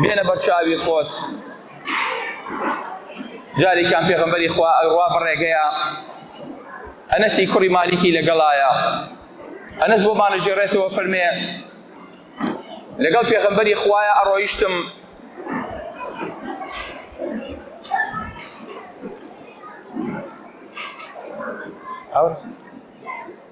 بێنە بەرچاوی خۆت جارێکیان پێغەمبەری خوا ئەڕوا بەڕێگەیە ئەنەسی کوڕی مالیکی لەگەڵایە ئەنەس بۆ مانەژێڕێتەوە فەرمێ لەگەڵ پێغەمبەری خوایە ئەڕۆیشتم ئەو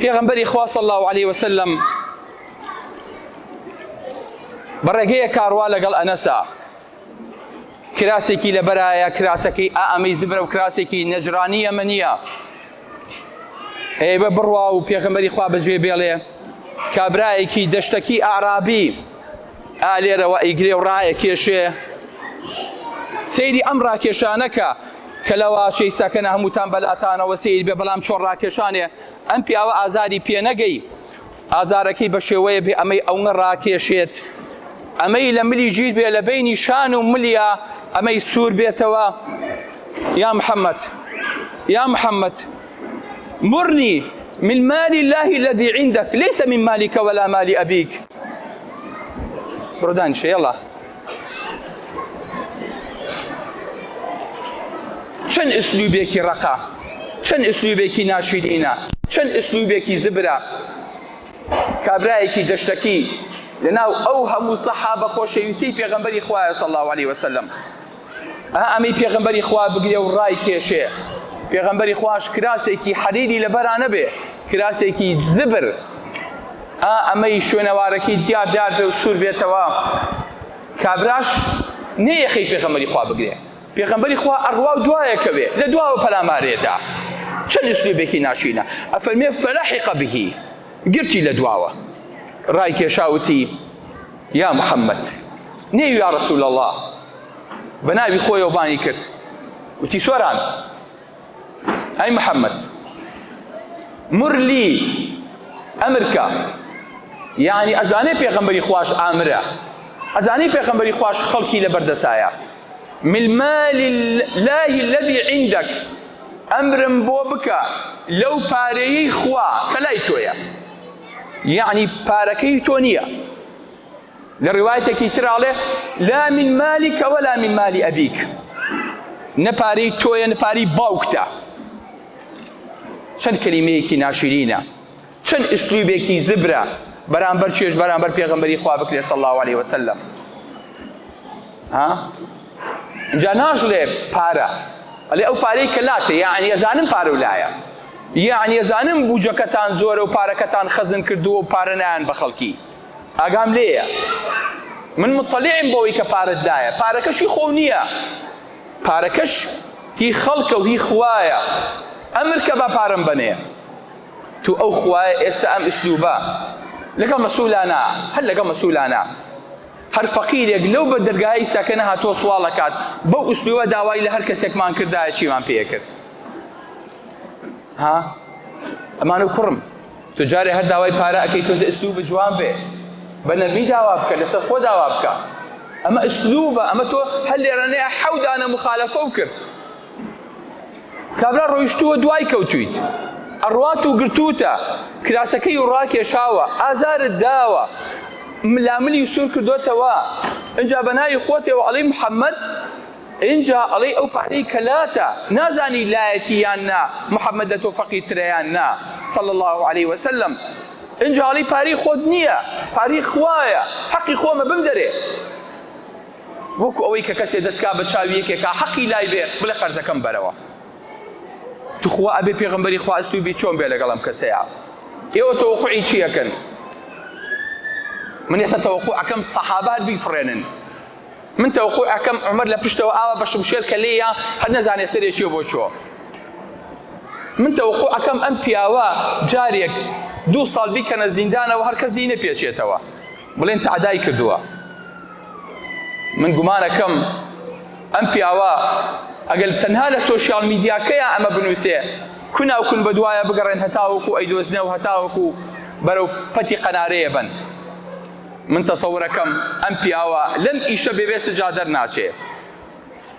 پێغەمبەری خوا صلی الله علیه وسلم بەڕێگەیە کاروا لەگەڵ ئەنەسا کراسێکی لە بەرایە کراسەکەی ئامەی زبرە و کراسێکی نەجرانی ئەمەنیە ئێ بە بڕوا و پێغەمبەری خوا بەجێ بێڵێ کابرایەکی دەشتەکی ئارابی ئالێرەوە ئیگرێ و ڕایە کێشێ سەیری ئەم ڕاکێشانەکە کە لە واچەی سەکەنە هەمووتان بەلاتانەوە سەیر بێ بەڵام چۆن ڕاکێشانێ ئەم پیاوە ئازاری پێنەگەی ئازارەکەی بە شێوەیە بێ ئەمەی ئەونە ڕاکێشێت ئەمەی لە ملی ژیر بێ لە بینی شان و ملیا ئەمەی سوور بێتەوە یا محەممەد یا محەممەد مرنی من مالی اللهی الذي عندك ليس من مالك ولا مالی ئەبیک بڕدان شێڵە چەند ئسلوبێکی ڕەقە چەند ئسلوبێکی ناشیرینە چەند ئسلوبێکی زبرە کابرایەکی دەشتەکی لەناو ئەو هەموو سەحابە خۆشەویستی پێغەمبەری خوایە صلی الله علیه وسلم ئا ئەمەی پێغەمبەری خوا بگرێ و ڕای کێشێ پێغەمبەری خواش کراسێکی حەریری لەبەرانە بێ کراسێکی زبر ئا ئەمەی شوێنەوارەکەی تیا دیار بێ و سوور بێتەوە کابراش نێ یەخەی پێغەمبەری خوا بگرێ پێغەمبەری خوا ئەڕوا و دوایە کەوێ لە دواوە پەلامارێ دا چەند ئسلوبێکی ناشرینە ئەفەرمێ فەلەحیقە بهی گرتی لە دواوە ڕای کێشا وتی یا محەممەد نێ یا ڕسول اللە بە ناوی خۆیەوە بانی کرد وتی سۆران ئەی محەممەد مر لی ئەمرکە یعنی ئەزانێ پێغەمبەری خواش ئامرە ئەزانی پێغەمبەری خواش خەڵکی لە بەردەسایە من مال الله الذي عندك ئەمرم بۆ بکە لەو پارەیەی خوا کە لای تۆیە یعنی پارەکەی تۆ نییە لە ڕیوایەتێکی تر ئاڵێ لا من مالیکە وەلا من مالی ئەبیک نە پارەی تۆیە نە پارەی باوکتە چەند کەلیمەیەکی ناشرینە چەند ئسلوبێکی زبرە بەرامبەر چێش بەرامبەر پێغمبەری خوا بکرێت صلی الله عليه وسلم ها جا ناژڵێ پارە ئەلێ ئەو پارەی کە لاتێ یاعنی ئەزانم پارە و لایە یاعنی ئەزانم بوجەکەتان زۆرە و پارەکەتان خەزن کردووە و پارە نایەن بە خەڵکی ئاگام لێیە من مطلعم بەوەی کە پارەت دایە پارەکەش هی خۆو نییە پارەکەش هی خەڵکە و هی خوایە ئەمر کە بە پارەم بەنێ تو ئەو خوایە ئێستا ئەم ئسلوبە لەگەڵ مەسوولانە هەر لەگەڵ مەسوولانە هەر فەقیرێک لەو بە دەرگای ئیساکە نەهاتۆ سواڵەکات بەو ئسلوبە داوای لە هەر کەسێکمان کردایە چیمان پێکرد ها ئەمانە کوڕم تو جارێ هەر داوای پارە ئەکەی تۆزێ ئسلوب جوان بێ بە نەرمی داوا بکە لەسەر خۆ داوا بکە ئەمە ئسلوبە ئەمە تۆ هەر لێرانەیە حەودانە مخالەفە و کرد کابرا ڕۆیشتووە دوای کەوتویت ئەڕات و گرتوتە کراسەکەی و ڕاکێشاوە ئازارت داوە ملاملی سوور کردوتەوە ئەجا بە ناوی خۆتەوە ئەڵی محەممەد ئینجا ئەڵێی ئەو پارەی کە لاتە نازانی لایەتی یان نا محمد لە تۆ فەقیر ترە یان نا صلی اللە علیە وسلم ئینجا ئەڵێی پارەی خۆت نییە پارەی خوایە حەقی خۆمە بمدەرێ وەکو ئەوەی کە کەسێ دەستکا بە چاوی یەکێکا حەقی لای بێ بڵێ قەرزەکەم بەرەوە تخوا ئەبێ پێغمبەری خواست و بی چۆن بێ لەگەڵم کەسەیە ئێوە تەوقعی چیەکەن من ئێستا تەوقعەکەم سەحابات بیفڕێنن من تەوەقوع ئەکەم عومەر لە پشتەوە ئاوا بە شمشێر کە لێیە هەر نەزانێ سەرێ چیە بۆ چۆ من تەوەقوع ئەکەم ئەم پیاوە جارێک دوو ساڵ بیکەنە زیندانەوە هەر کەس لێی نەپێچێتەوە بڵێن تەعدای کردووە من گومانەکەم ئەم پیاوە ئەگەر تەنها لە سۆشیال میدیاکەیە ئەمە بنووسێ کوناو کون بە دوایە بگەڕێن هەتاوەکو ئەیدۆزنەوە هەتاوەکو بەرەو پەتی قەنارەیە بن من تەسەورەکەم ئەم پیاوە لەم ئیشە بێبێ سجا دەرناچێ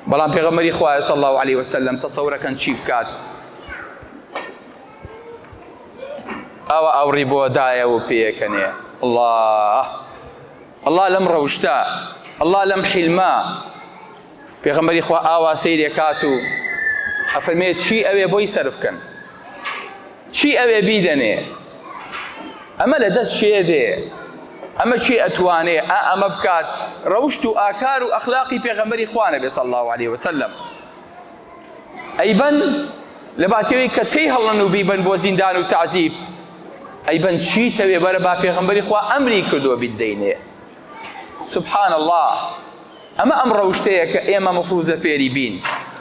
بەڵام پێغەمەری خوایە صلی الله علیه وسلم تەسەورەکەن چی بکات ئەوە ئەوڕی بۆ دایە و پێکەنێ الله الله لەم ڕەوشتە الله لەم حلمە پێغەمبەری خوا ئاوا سەیری ئەکات و ئەفەرمێت چی ئەوێ بۆی سەرف کەن چی ئەوێ بیدەنێ ئەمە لە دەست شێ دێ ئەمە چی ئەتوانێ ئا ئەمە بکات ڕەوشت و ئاکار و ئەخلاقی پێغەمبەری خوانە بێ صلی الله عليه وسلم ئەیبەن لە باتیەوەی کە تێی هەڵن و بیبن بۆ زیندان و تعزیب ئەیبەن چی تەوێ بەرە با پێغەمبەری خوا ئەمری کردووە بیدەینێ سبحان اللە ئەمە ئەم ڕەوشتەیە کە ئێمە مفروزە فێری بین